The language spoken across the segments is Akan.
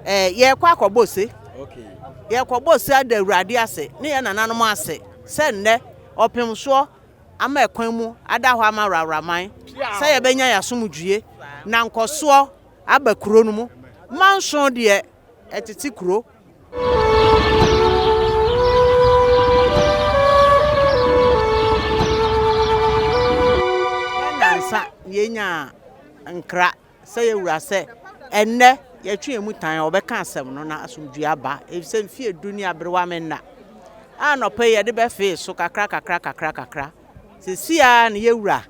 Eh, yɛrekɔ akɔbɔ ose. Yɛrekɔbɔ ose ada Awurade ase ne yɛn nananom ase sɛ nnɛ ɔpem soɔ ama ɛkwan mu ada hɔ ama Rawraman sɛ yɛbɛnya yɛn asomdwoeɛ na nkɔsoɔ aba kuro no mu. Manson deɛ ɛtete kuro. Nnansa na yɛnyaa nkra. sɛ yɛwura sɛ ɛnnɛ yɛtwe yɛn mu tan a, wɔbɛka asɛm no na asomdwoe aba, efisɛ mfe edu ne aberewa me nna. Anɔpa yi yɛde bɛfee so kakra kakra kakra kakra. Sisi a na yɛwura.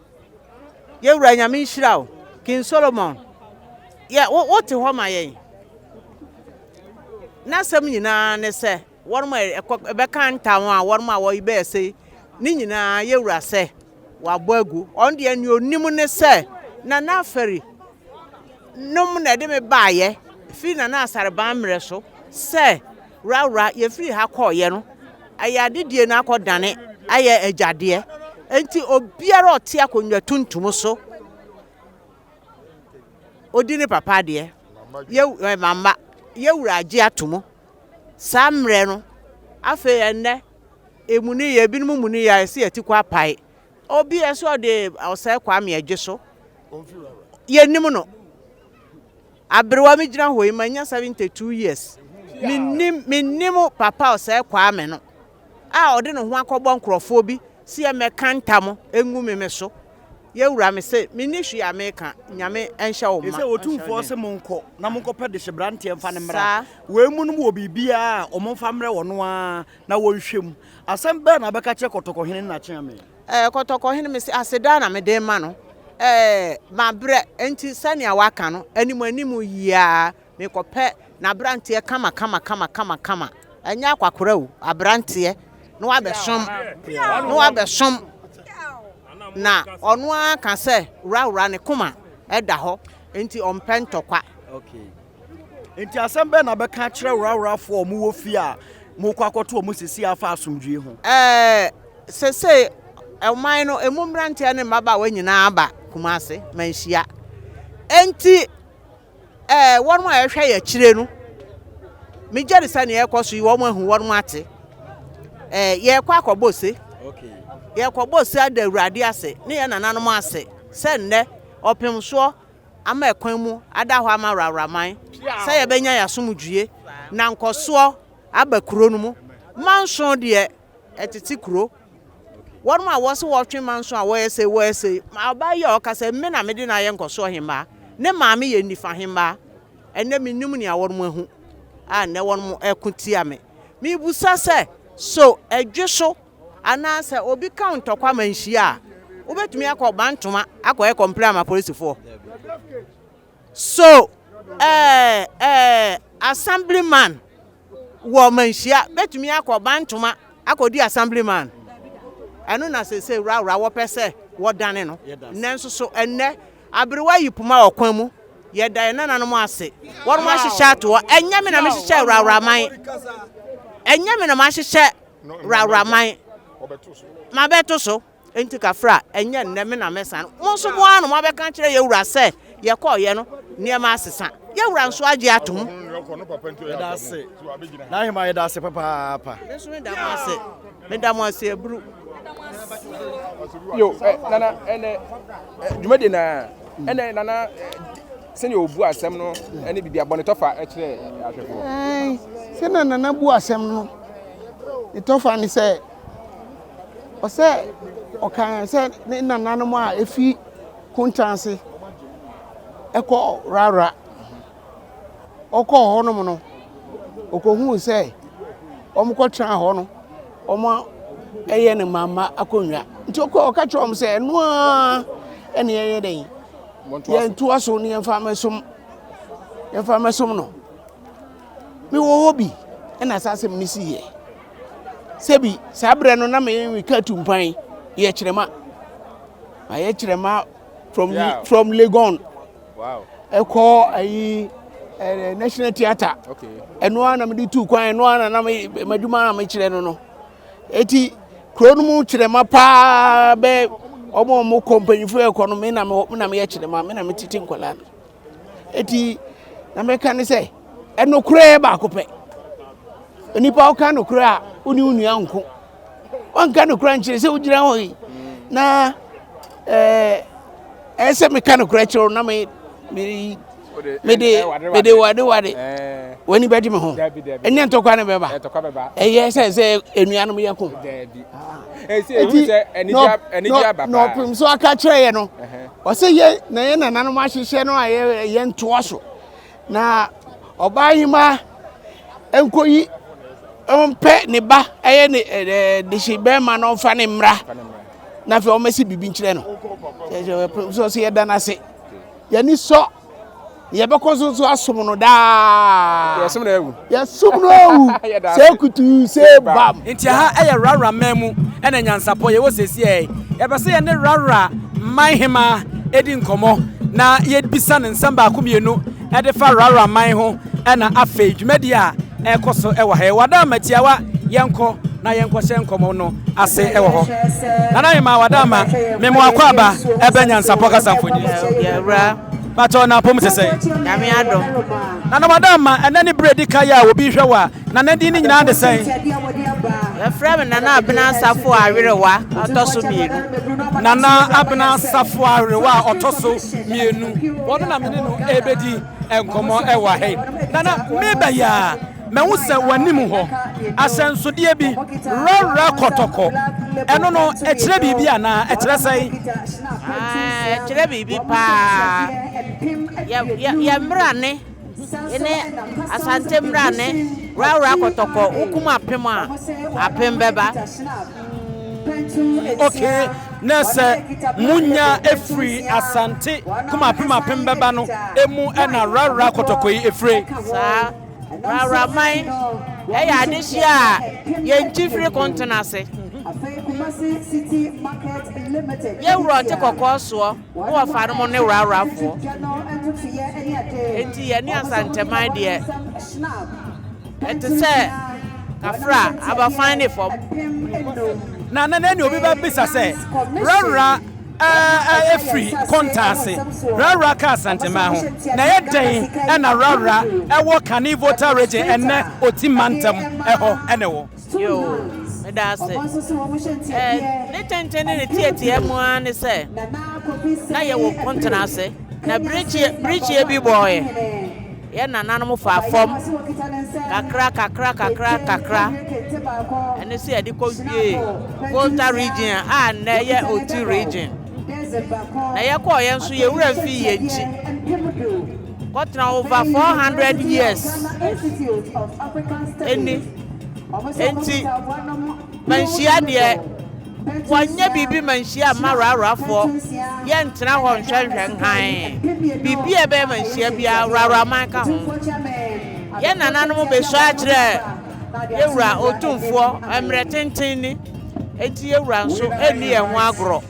Yɛwura Nyame nhyira o. King Solomon, yɛ wo wote hɔ ma yɛn. N'asɛm nyinaa ne sɛ Wɔnom a ɛkɔ bɛka ntam a wɔnom a wɔyi bɛɛ sei ne nyinaa yɛwura sɛ wabɔ agu ɔno deɛ nea onim ne sɛ nana afɛri nom na ɛde me baayɛ firi nana asareban mmerɛ so sɛ wurawura yɛfiri ha kɔɔyɛ no ɛyɛ adedie no akɔ dane ayɛ agyadeɛ nti obiara ɔte akonnwa tuntum so odi ne papa adeɛ yɛ mama yɛwura agye ato mu Saa mmerɛ no, afei ɛnnɛ, ɛmu no yɛ, binom mu no yɛ a ɛsɛ yɛte kɔ apae. Obi ɛsɛ ɔde ɔsɛe Kwame ɛgye so. Yɛnim no. Aberewa me gyina hɔ yi, manya 72 years. Mennim, mennim papa ɔsɛe Kwame no. a ɔde ne ho akɔbɔ nkurɔfoɔ bi se yɛmmɛka ntam ngu me me so, yɛwura me se menni hwee a meka, Nyame nhyɛ wo mma. Efisɛ Otumfoɔ se monkɔ na monkɔpɛ dehyeberanteɛ mfa no mmra, wei mu nom wɔ biribiara a wɔmfa mmrɛ wɔn no ara na wɔnhwɛ mu. Asɛm bɛn na wobɛka akyerɛ Kɔtɔkɔhene ne n'akyeame? Ɛɛ, Kɔtɔkɔhene, mese aseda na mede rema no, ɛɛ, mabrɛ, enti sɛnea waka no, anim anim yi ara Mekɔpɛ n'aberanteɛ kamakamakama, ɛnyɛ akwakora o, aberanteɛ na wabɛsom, na wabɛsom, na ɔno ara ka sɛ wurawura ne koma da hɔ, nti ɔmpɛ ntɔkwa. Okay. Nti asɛm bɛn na bɛka akyerɛ wurawurafoɔ a wɔwɔ fie a mokɔ akɔto wɔn sisi afa asomdwie ho? Ɛɛ, sesei ɔman no emu mmeranteɛ ne mmabaawa nyinaa aba Kumase manhyia, enti. Ɛɛ, wɔnom a ɛhwɛ yɛ akyire no, megyɛne sɛ neɛ ɛkɔ so yi wɔnom ahu wɔnom ate. Ɛɛ, yɛɛkɔ akɔbɔ ose. Yɛɛkɔbɔ ose ada awurade ase, ne yɛ nananom ase, sɛ nnɛ ɔpemsoɔ ama ɛkwan mu ada hɔ ama wrawraman sɛ yɛbɛnya yɛ asomdwie na nkɔsoɔ aba kuro no mu. Manso deɛ ɛtete kuro. Wɔnom a wɔse wɔtwe manso a wɔyɛ sei wɔyɛ sei, ma ɔbaa yi a ɔka sɛ me na mede no ayɛ nkɔso ɔhemmaa, ne maame yɛ nifa hemmaa, ɛnnɛ mennim nea wɔnom ahu a nnɛ wɔnom ɛko tia me. Mebusa sɛ, so ɛdwe so anaa sɛ obi ka wo ntɔkwa ma nhyia a, wobɛtumi akɔ Bantoma akɔyɛ kɔmplɛn ama polisifoɔ? So ɛɛ ɛɛ Assemblyman wɔ Manhyia bɛtumi akɔ Bantoma akɔdi Assemblyman? Ɛno na seesei Wrawra wɔpɛ sɛ wɔdane no. Nanso so ɛnnɛ aberewa yi poma ɔkwan mu? Yɛda yɛn nananom ase. Wɔnom ahyehyɛ atoɔ. Ɛnyɛ me na mehyehyɛɛ Wrawra man. Ɛnyɛ me na mahyehyɛ Wrawra man. Mabɛto so. Enti kafra, ɛnyɛ nnɛ me na mɛsan. Mo nso mo ara na moabɛka akyerɛ yɛn wura sɛ, Yɛkɔeɛ no, nneɛma asesa. Yɛn wura nso agye atom. Yɛda ase, n'ahemmaa, yɛda ase papaapa. Me nso meda mo ase, meda mo ase aburu. Yo, eh, nana, ɛnɛ, eh, dwumadie na, ɛnɛ, nana, sɛnea ɔbu asɛm no ne biribi abɔnetɔfa kyerɛ ahwɛfoɔ sɛ na nana bu asɛm no ne tɔfa ne sɛ Ɔsɛ ɔkae sɛ ne nananom a efi Kunta ase kɔ Rara. Ɔkɔɔ hɔnom no, okohuu sɛ wɔkɔtena hɔ no, wɔayɛ no mama akonnwa. Nti ɔkɔɔ ɔka kyerɛɛ wɔn sɛ, ɛno ara ɛne yɛyɛ dɛn? Yɛntoa so ne yɛmfa mmɛsom yɛmfa mmɛsom no. mewɔ hɔ bi na saa asɛm no siiɛ. Sɛbi saa berɛ no na meka tu mpan yɛ kyerɛma ayɛ kyerɛma from, yeah. from Legon wow. ɛkɔ ayi eh, National Theatre ɛno ara na mede tu kwan ɛno ara na madwuma a mekyerɛ no no ɛti kuro no mu kyerɛma paa bɛ ɔmo ɔmo kɔ mpanyinfoɔ ɛkɔ no me na meyɛ kyerɛma me na metete nkwadaa no eti na meka ne sɛ ɛnokorɛ baako pɛ onipa woka nokorɛ a wone wo nua nko wanka nokorɛ nkyerɛ sɛ wogyina hɔ yi na ɛɛ ɛyɛ sɛ meka nokorɛ kyerɛ na me me mede mede wade wade w'ani bɛgye me ho ɛnyɛ ntɔkwa ne bɛba ɛyɛ sɛ sɛ anuanom yɛ ko ɛti na ɔpem so aka kyerɛ yɛ no Ɔsɛ yɛ na yɛ nananom ahyehyɛ no a yɛ ntoa so na ɔbaa hema nkɔyi ɔmpɛ ne ba ɛyɛ ne ɛɛ dehye bɛrima na ɔmfa ne mmra na afei ɔmɛsi biribi nkyerɛ no sɛ ɔsɛ yɛda no ase yɛni sɔ. Yɛbɛkɔ so nso asom no daa. Yɛsom no awu. Yɛsom no awu. Sɛ kutuu sɛ bam. Nti ɛha ɛyɛ Rara man mu ɛna nyansapɔ yɛwɔ sɛsiɛɛ. Yɛpɛ sɛ yɛne Rara man hemaa ɛdi nkɔmɔ na yɛbisa no nsɛm baako mmienu ɛdefa Rara man ho. Ɛna afei dwumadi a ɛkɔ so wɔ ha yi, Wadaama tiawa yɛnkɔ na yɛnkɔhyɛ nkɔmmɔ no ase wɔ hɔ. Nana Hemaa Wadaama, me mo akɔ aba ɛbɛ Nyansapɔ kasa mfonini so. Yɛwura. Pakyɛw na apom te sɛn? Nyame adom. Nana Wadaama, ɛnɛ ne bere di kan yi a obi hwɛ wo a, Nana din ne nyinaa de sɛn? Yɛfrɛ me Nana Abena Asafo Awerewa a ɔtɔ so mmienu. Nana Abena Asafo Awerewa a ɔtɔ so mmienu. Wɔno na me ne no ɛbɛdi. nkɔmmɔ wɔ ha yi. Nana, meba yi ara, mahu sɛ w'anim hɔ, ahyɛnsodeɛ bi, rɔrɔ kɔtɔkɔ. Ɛno no, ɛkyerɛ biribi anaa? Ɛkyerɛ sɛn? Ah, ɛkyerɛ biribi paa. Yɛ mmerane ne Asante mmerane, rɔrɔ kɔtɔkɔ, wokum apem a, apem bɛba. ok na sɛ munya efiri asante kumapem apem bɛba no emu ɛna rara kɔtɔkɔ yi efire. saa rara man ɛyɛ adehyeɛ a yɛnkyi firi kontono ase yɛwura ɔte kɔkɔɔ soɔ. Wo wɔ fa no mo ne worawora foɔ enti yɛ ne asanteman deɛ ɛte sɛ kafra aba fan ne fam. Na na ne obi bɛ bisa sɛ worawora ɛfiri konta ase worawora ka asanteman ho na yɛ dɛn ɛna worawora ɛwɔ Kane Volta region ɛnɛ Oti mantam ɛhɔ ɛne wɔ. Yoo, meda ase. Ɛ, ne tenten ne ne teɛteɛ mu ara ne sɛ, na yɛwɔ pontena ase, na birikyeɛ, birikyeɛ bi bɔɔeɛ. Yɛn nananom faa fam kakra kakra kakra kakra. Ɛno nso yɛde kɔ wiee Volta region a nnɛ yɛ Oti region. Na yɛkɔɔ yɛn nso yɛn wura mfii yɛn akyi. Kɔtena over four hundred years ɛni nti manhyia deɛ wɔnyɛ biribi manhyia mma rarafoɔ yɛntena hɔ nhwɛnhwɛ nhan biribi a ɛbɛyɛ manhyia biara raraman ka ho yɛn nananom bɛsɔ akyerɛ yɛwura otumfoɔ mmerɛ tenten ni nti yɛwura nso ɛnni yɛn ho agorɔ.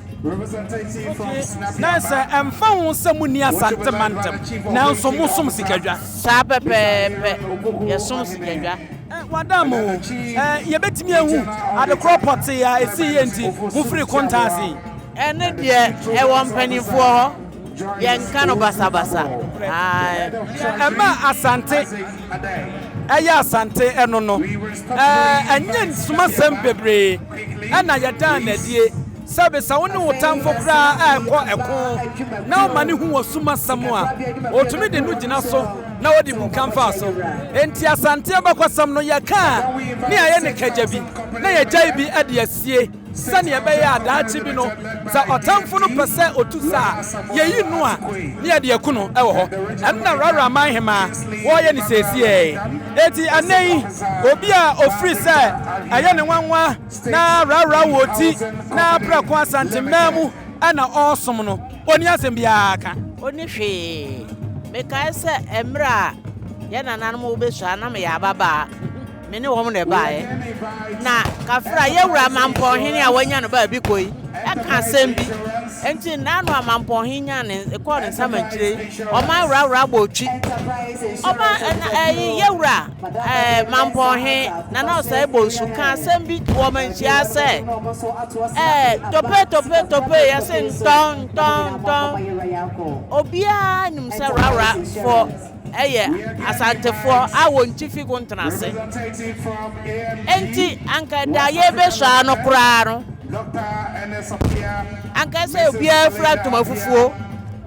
Na sɛ ɛmfa ho sɛ monni Asante mantam, nanso mosom sikadwa. Saa pɛpɛɛpɛ, yɛsom sikadwa. Wɔadan mo o. Yɛbɛtumi ahu adekorɔ pɔtee a ɛsii yɛ nti mofirii kontaa ase? Ɛno deɛ, ɛwɔ mpanimfoɔ hɔ. Yɛnka no basabasa. Ae. Deɛ ɛma Asante yɛ Asante no no, ɛnyɛ nsumasɛm bebree. Ɛnna yɛdaa no adie sɛ bisa wo ne wo tamfo koraa a ɛkɔ ɛko na ɔma no hu wɔ sum asɛm a, ɔtumi de no gyina so na ɔde bu kamfaa so. Enti Asante abakɔsɛm no yɛkaa ne ayɛ ne kagya bi na yɛgyae bi de asie sɛdeɛ ɛbɛyɛ a daakye bi no sɛ ɔtamfo no pɛ sɛ ɔtu sa a, yɛyi no a ne yɛde aku no wɔ hɔ. Ɛno na Raraman hemaa wɔyɛ no seesieɛ. Enti ɛnnɛ yi. Obi a ofiri sɛ ɛyɛ ne nwanwa na rawra wɔ ti na prɛko Asantemmɛn mu na ɔresom no, onni asɛm biara ka. Onni hwee. Mekae sɛ mmerɛ a yɛn nananom rebɛsua na meyɛ ababaa, me ne wɔn na ɛbaeɛ, na Kafra, yɛn wura Mampɔn hene a wɔanya no baabi kɔ yi, ka asɛm bi. Enti nna ano a Mampɔn hene nyaa ne, kɔɔ ne nsamankyire yi, ɔman rawra bɔɔ twi. Ɔman, ɛna, ɛyi, yɛn wura. Ɛɛ, Mampɔn he, Nana Ɔsɛe Bonsu ka asɛm bi to wɔn nhyia sɛ, Ɛɛ, tope, tope, tope, yɛse ntɔn, ntɔn, ntɔn. Obiara nim sɛ Rarafoɔ yɛ Asantefoɔ a wɔn ti fi Kontenase. Enti, anka da a yɛrebɛsua no koraa no, anka sɛ obiara fira ntoma fufuo.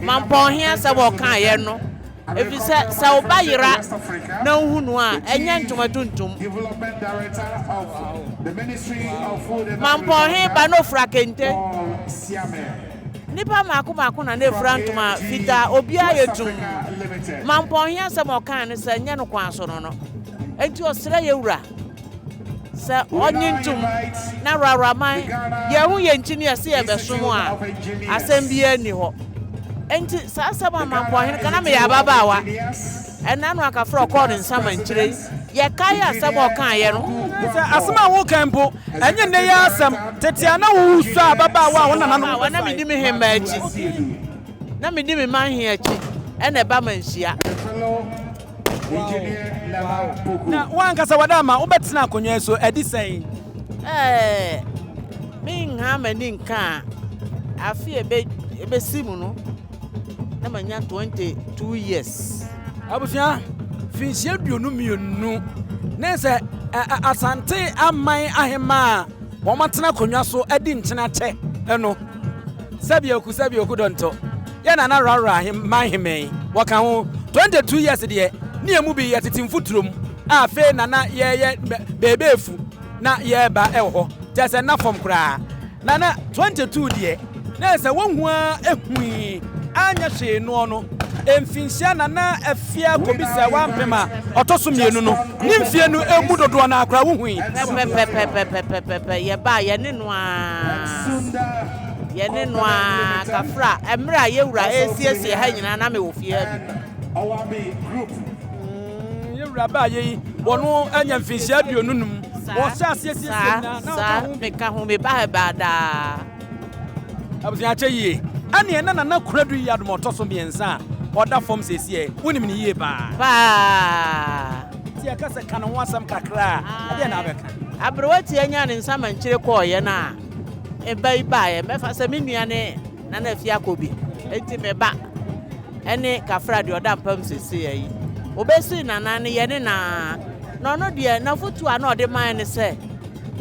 Mampɔn he asɛm a ɔkaeɛ no, Efisɛ sɛ wo ba yera na wuhu no a, ɛnyɛ ntoma tuntum. Mampɔnhe ba na ofura kente. Nnipa mmaako mmaako na na efura ntoma fitaa. Obiara yɛ tumm. Mampɔnhe asɛm a ɔkae ne sɛ, Nyɛ no kwan so no no. Enti ɔsrɛɛ yɛn wura Sɛ ɔnnye ntom na Rawra man yɛn ho yɛn nti ne yɛse yɛbɛsom a, asɛm biara nni hɔ. Enti saa asɛm a Mampɔhene ka, na meyɛ ababaawa, ɛnna no anka frɛ ɔkɔɔ ne nsamankyire yi, yɛkae asɛm a ɔkaeɛ no. Sɛ asɛm a wokae mpo, ɛnyɛ nnɛ yi ara asɛm, tete a na wosoa ababaawa a wo nananom kɔfae. Na medi me hemmaa akyi, na medi me man he akyi, ɛna ɛba manhyia. Na wo ankasa wada ama wobɛtena akonnwa yi so adi sɛn? Ɛɛ, menha m'ani nka a, afe a ebesi mu no, na manya 22 years. Abusua, mfinhyia aduonu mmienu ne sɛ Asante Aman Ahemmaa a wɔatena akonnwa so adi nkyene akyɛ no. Sɛbioku, sɛbioku dɔntɔ. yɛ Nana Rawra man hemɛn, wɔka ho 22 years deɛ ne yɛ mu bi yɛ tete mfuturom a afei na na yɛɛyɛ beebeefu na yɛɛba wɔ hɔ kyɛɛ sɛ nna fam koraa na na 22 deɛ na yɛ sɛ wɔhu ara ɛhui anyɛ hwee noɔ no mfinhyia Nana Afia kɔbisa wampem a ɔtɔ so mmienu no ne mfie no ɛmu dodoɔ no ara koraa wohui. Pɛpɛpɛpɛpɛpɛpɛpɛ yɛbaa yɛne no ara. Yɛne no ara kafra mmerɛ a yɛn wura resiesie ha nyinaa na mewɔ fie ha bi. Wura baa yɛ yi wɔn anya mfinhyia aduonu num wɔhyɛ aseɛ siesie nyinaa na ɔka ho. Saa meka ho meba ha baa daa. Abusua akyɛ yie ɛne ɛna nana kuradu yi adom ɔtɔ so mmiɛnsa a ɔda fam siesie wonim ne yie paa. Paa. Ti ɛka sɛ ka ne ho asɛm kakra a ɛdeɛ na abɛka. Aberewa ti anya ne nsa mankyire kɔɔyɛ no a. Mba yi baeɛ, mɛfa sɛ me nua ne Nana Afiakɔbi, enti me ba ne Kafra deɛ ɔda mpa mu seesei yi, wɔbɛsii Nana no yɛne no ara, na ɔno deɛ n'afotuo a na ɔde mae ne sɛ,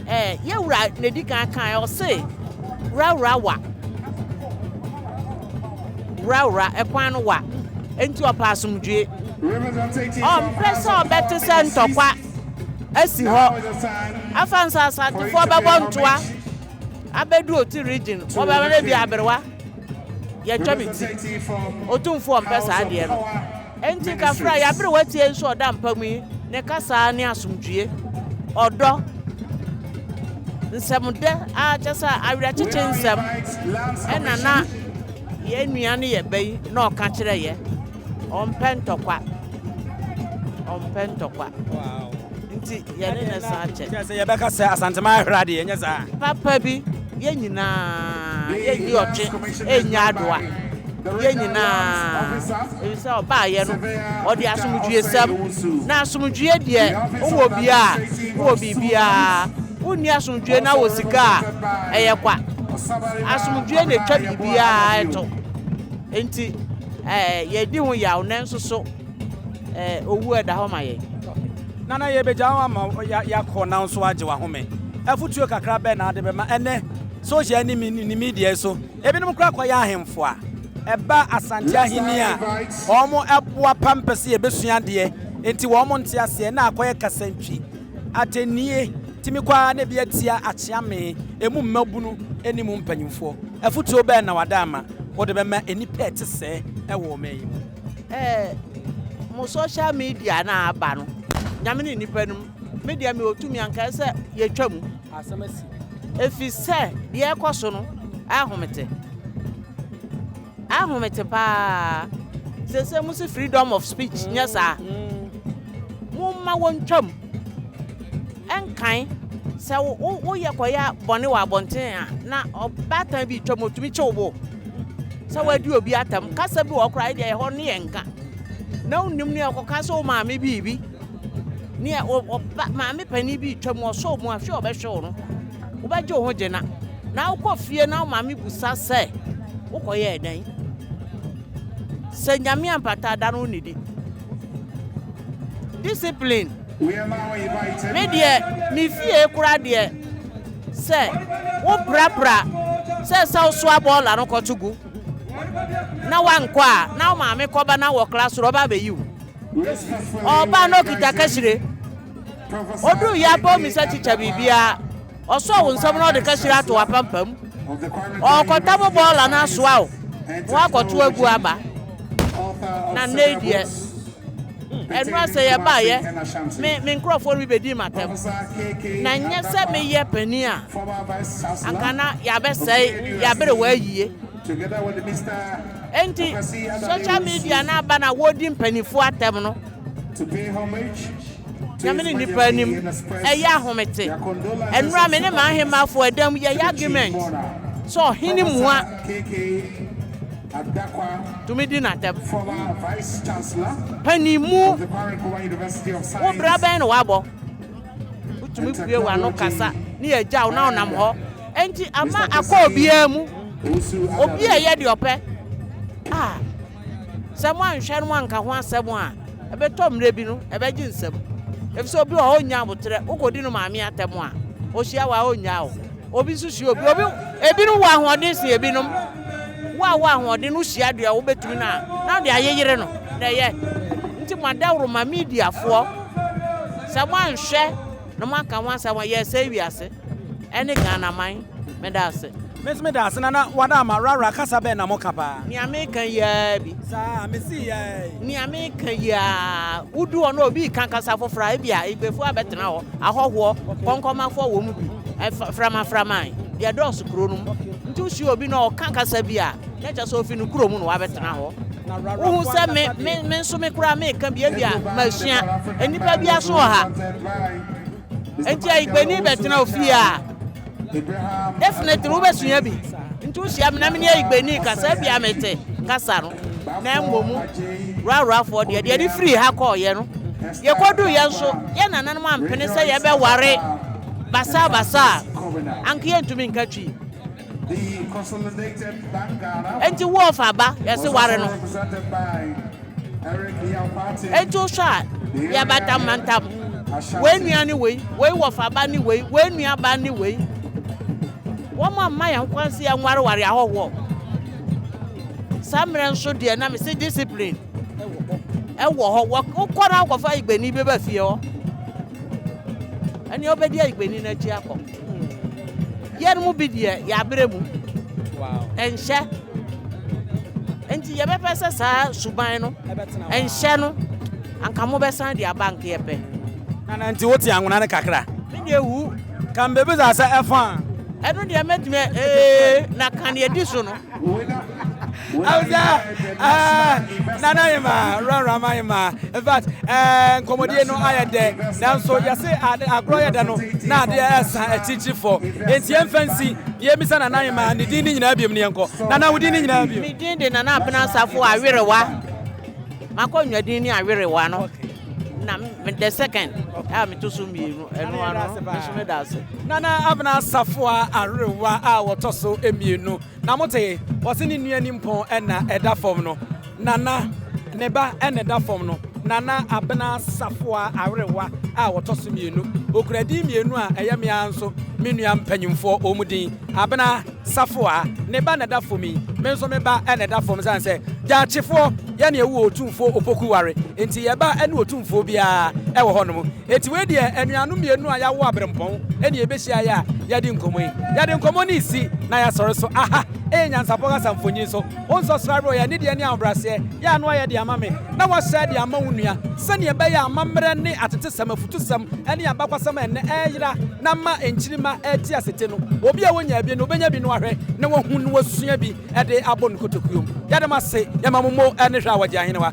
ɛɛ, yɛn wura na ɛdi kan kaeɛ, ɔse, Wura wura wa, wura wura, ɛkwan no wa, enti ɔpɛ asomdwoeɛ, ɔmpɛ sɛ ɔbɛte sɛ ntɔkwa. asi hɔ afa nso asantefoɔ bɛbɔ ntoa abɛdu oti region wɔbɛma no bi aberewa yɛtwa me ti otumfoɔ mpɛ saa adeɛ no enti kafra yɛaberewa tie nso ɔda mpa mu yi ne kasaa ne asomdwie ɔdɔ nsɛmdɛ a kyɛ sɛ awerɛkyekye nsɛm ɛna na yɛn nua ne yɛ bɛyi na ɔka kyerɛ yɛ Ɔmpɛ ntɔkwa. Ɔmpɛ ntɔkwa. Nti yɛne ne san kyɛ. Kyerɛ sɛ yɛbɛka sɛ Asantema ahera deɛ, ɛnyɛ saa? Papa bi, yɛn nyinaa, yɛnni ɔtwe nnya adoa. Yɛn nyinaa, ɛfiri sɛ ɔbaeɛ no, ɔde asomdwoesɛm, na asomdwoeɛ deɛ, wowɔ bi a, wowɔ biribiara. Wonni asomdwoeɛ na wowɔ sika a, ɛyɛ kwa. Asomdwoeɛ na ɛtwa biribiara to. Enti. Ɛɛ, yɛredi ho yaw, nanso so ɛɛ, owu a ɛda hɔ ma yɛn? Nana, yebegya wo ama yɛakɔ nanso woagye w'ahome. Afotu kakra bɛn na wode bɛma ɛnnɛ sohyial ne midiae so? Ebinom koraa kɔyɛ ahemfo a ɛba Asante Ahenni a wɔboapa mpɛ sɛ yebesua adeɛ, enti wɔnte aseɛ, na akɔyɛ kasantwi. Atɛnnie tumi kɔ ara na bi atia akyea me, emu mmabunu ne mu mpanyimfoɔ. Afotuo bɛn na w'ada ama wode bɛma nnipa a ɛte sɛɛ wɔ ɔman yi mu? Eh mo social media no a aba no Nyame ne nnipa no mu me deɛ mewɔ tumi anka ɛyɛ sɛ yɛtwa mu Asɛm asi. ɛfiri sɛ deɛ ɛrekɔ so no ɛnhomete. Ahome te paa sese mo se freedom of speech nyɛ saa mo ma wɔn twam ɛnkan sɛ wo wo yɛ kɔyɛ bɔne wɔ abɔnten a na ɔbaatan bi twam otumi kyew bo sɛ wadi obi atam kasa bi wɔ kora ɛdeɛ ɛhɔ ne yɛn nka na wonim ne ɛkɔka sɛ wo maame biribi nea ɔba maame panin bi retwa mu ɔsɔ mu ahwɛ ɔbɛhwɛ wo no wobɛgye wo ho gyina na wokɔ fie na wo maame busa sɛ wokɔyɛ ɛdan sɛ nyame ampata da no wo nidi discipline me deɛ me fie kora deɛ sɛ woprapra sɛ sɛ wosoa bɔɔla no kɔto gu na wankɔ a na wo maame kɔba na wɔ kla soro ɔba abɛyi wo ɔɔba na ɔkita kahyire ɔduu yɛ apɔw mi sɛ kyekyɛ biribiara ɔsɔɔ wo nsɛm na ɔde kahyire ato apampam ɔɔkɔta mo bɔɔla no asoa o na wakɔto agu aba na nnɛ yi deɛ ɛno asɛ yɛbaayɛ me me nkurɔfoɔ no bi bɛdii m'atɛm na nyɛ sɛ meyɛ panin a anka na yɛabɛsɛe yɛabere wɔ ayie Enti, social media no aba na wɔredi mpanimfoɔ atɛm no, Nyame ne nnipa anim, ɛyɛ ahomete. Ɛnora me ne m'ahemmafoɔ ɛda mu yɛyɛ argument sɛ ɔhene mua tumi di n'atɛm. Panin mu, wo bra bɛn na wabɔ? Wotumi bue w'ano kasa ne yɛagya wo na wonam hɔ. Enti ama akɔ obiara mu, obi a ɛyɛ deɛ ɔpɛ a, sɛ moanhwɛ no moanka ho asɛm a, ɛbɛtɔ mmerɛ bi no, ɛbɛgye nsam. Ɛfiri sɛ obi wɔ hɔ a ɔnnya aboterɛ, wokɔdi no maame atɛm a, ɔhyia wo a, ɔnnyaa wo. Obi nso hyia obi, obi, ebinom wɔ ahoɔden sen ebinom. Wo a wowɔ ahoɔden no, wohyia deɛ wobɛtumi no a, na wode ayeyere no na ɛyɛ. Enti moadaworo ma mediafoɔ, sɛ moanhwɛ. Na mo aka ho asɛm wɔ yɛsɛe wiase ɛne Ghana man meda ase. Me nso meda ase nana wada ama rara kasa bɛn na mo ka paa. Nea me ka yi aa bi. Saa me se aa yi. Nea me ka yi aa wo du hɔ na obi reka kasa foforɔ a ebi a igbefoɔ abɛtena hɔ ahɔhoɔ kɔnkɔmafoɔ wɔ mu bi framaframa deɛ dɔɔso kuro no mu nti wo hyia obi na ɔka kasa bi a Na kyerɛ sɛ ofi ne kuro mu na wabɛtena hɔ. Wohu sɛ me, me, me nso me koraa meka bi ebi a masua. Nnipa bi aso wɔ ha. Nti ayigbani bɛtena ofie a, definitely wobɛsua bi. Nti wohyia me na mene ayigbani kasa bi a mete kasa no. Na mmom rurafoɔ deɛ, deɛ de firi ha kɔɔyɛ no, yɛkɔduu yɛn nso, yɛn nananom ampene sɛ yɛbɛware basabasa a, anka yɛntumi nka twi. Enti wo ɔfa aba yɛse ware no Enti wo hwɛ a yɛ bantam bantam Wei nua ne wei, wei wɔfa ba ne wei, wei nua ba ne wei Wɔn a mma yɛn kwan se yɛn ware ware ahɔhoɔ Saa mmerɛ nso deɛ na mese discipline Ɛwɔ hɔ, wokɔ na akɔfa igbeni bɛba fie hɔ Ɛneɛ wobɛdi igbeni no akyi akɔ. Yɛn mu bi deɛ, yɛabrɛ mu. Ɛnhyɛ. Enti yɛbɛpɛ sɛ saa suban no ɛnhyɛ no, anka mobɛsan de aba anka yɛpɛ. Nana, nti wote anwona no kakra? Me deɛ wu. Ka mbebisa sɛ ɛfã a. Ɛno deɛ mɛtumi a, ee, na ka nea ɛdi so no. Awusa ah, nana ayɛ ma wuraram ayɛ ma in fact eh, nkɔmmɔdie no ayɛ dɛ nanso yɛse agorɔ yɛ dɛ no na adeɛ ɛsa akyirikyiri fɔ enti yɛmfa nsi deɛ ɛmisa nana ayɛ ma ne din ne nyinaa biom ne yɛnkɔ nana wo din ne nyinaa biom medin de nana apena asafo awerewa makɔ nnwadin ne awerewa no okay. na the second a meto so mmienu ɛno ano nso meda ase nana abena safoa awerewa a wɔtɔ so mmienu na mote wɔse ne nua ni mpɔn ɛna ɛda fam no nana ne ba ɛna ɛda fam no nana abena safoa awerewa a wɔtɔ so mmienu okura din mmienu a ɛyɛ mmea nso me nua mpanyimfoɔ wɔn din abena Safoa, ne ba na ɛda fam yi, me nso me ba na ɛda fam esiane sɛ Gyatsefoɔ yɛ nea ɛwɔ Otumfoɔ Opoku ware nti, yɛn ba ne Otumfoɔ biara wɔ hɔnom. Enti wei deɛ anuanom mmienu a yɛawo aberempɔn na yɛbɛhyia yɛ a yɛadi nkɔmmɔ yi. Yɛde nkɔmmɔ no resi na yɛasɔre so. Aha yɛ nyansapɔ kasa mfonyin so. Wo nsɔsra werɛ ɔyɛ anideɛ ne ahobrɛaseɛ yɛ a na wɔayɛ de ama me na wɔahyɛ de ama wo nua, sɛdeɛ ɛbɛyɛ a amammerɛ ne atetesɛm, afutusɛm ne abakwasɛm a ɛnnɛ ɛreyera na ama nkyirimma rete ase te no, obi a ɔnyaa bi no, ɔbɛnya bi na wahwɛ na wahu na wasua bi de abɔ ne kotokuom. Yɛda mo ase, yɛma mo mo ne hwɛ a wɔgye ahenewa.